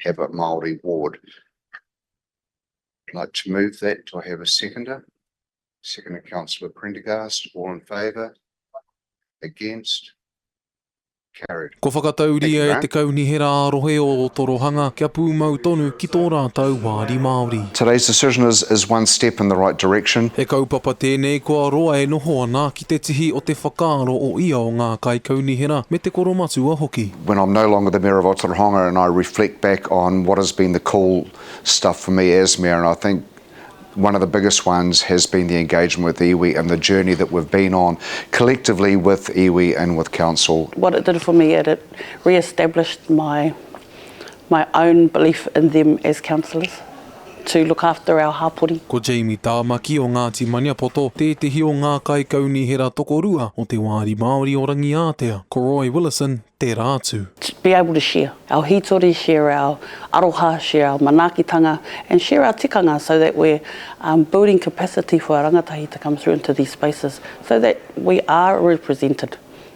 have a Māori ward. I'd like to move that. Do I have a seconder? Seconder, Councillor Prendergast. All in favour? Against? Carried. Kua whakatauria e te Kaunihera ā-Rohe o Torohanga kia pūmau tonu ki tō rātou wāri Māori. Today's decision is is one step in the right direction. He kaupapa tēnei kua roa e noho ana ki te tihi o te whakaaro o ia o ngā kaikaunihera me te koromatua hoki. When I'm no longer the Mayor of Aotearoa Honga and I reflect back on what has been the cool stuff for me as Mayor and I think one of the biggest ones has been the engagement with iwi and the journey that we've been on collectively with iwi and with council. What it did for me it re-established my my own belief in them as councillors to look after our hapori. Ko Jamie Tāmaki o Ngāti Maniapoto tētehi o ngā kaikaunihera tokorua o te Wāri Māori o Rangiātea, ko Roy Willison tērā atu. To be able to share our hītori, share our aroha, share our manaakitanga and share our tikanga so that we're building capacity for our rangatahi to come through into these spaces so that we are represented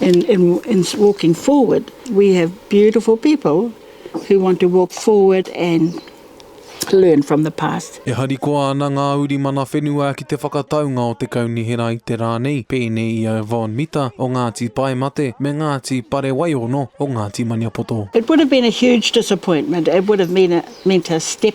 and in in walking forward we have beautiful people who want to walk forward and learn from the past. E harikoa ana ngā uri mana whenua ki te whakataunga o te kaunihera i te rā nei, pēnei i a Yvonne Mita o Ngāti Paemate me Ngāti Parewaiono o Ngāti Maniapoto. It would have been a huge disappointment, it would have meant a step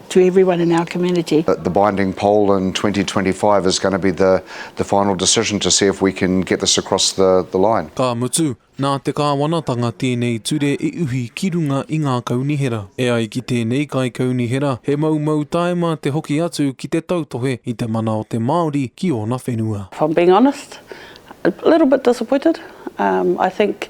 to everyone in our community. The binding poll in 2025 is going to be the the final decision to see if we can get this across the the line. Ka mutu, nā te kāwanatanga tēnei ture i uhi ki runga i ngā kaunihera. E ai ki tēnei kaikaunihera, he moumou tāima te hoki atu ki te tautohe i te mana o te Māori ki ōna whenua. If I'm being honest, a little bit disappointed. I think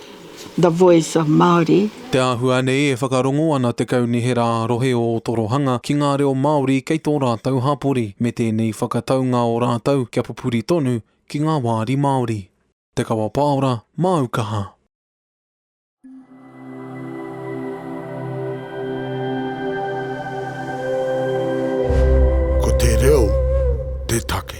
The Voice of Māori. Te āhua nei e whakarongo ana te Kaunihera ā-Rohe o Otorohanga ki ngā reo Māori kei tō rātou hapori, me tēnei whakataunga o rātou kia pupuri tonu ki ngā wāri Māori. Te Kawa Pāora, Māu Kaha. Ko te reo te take.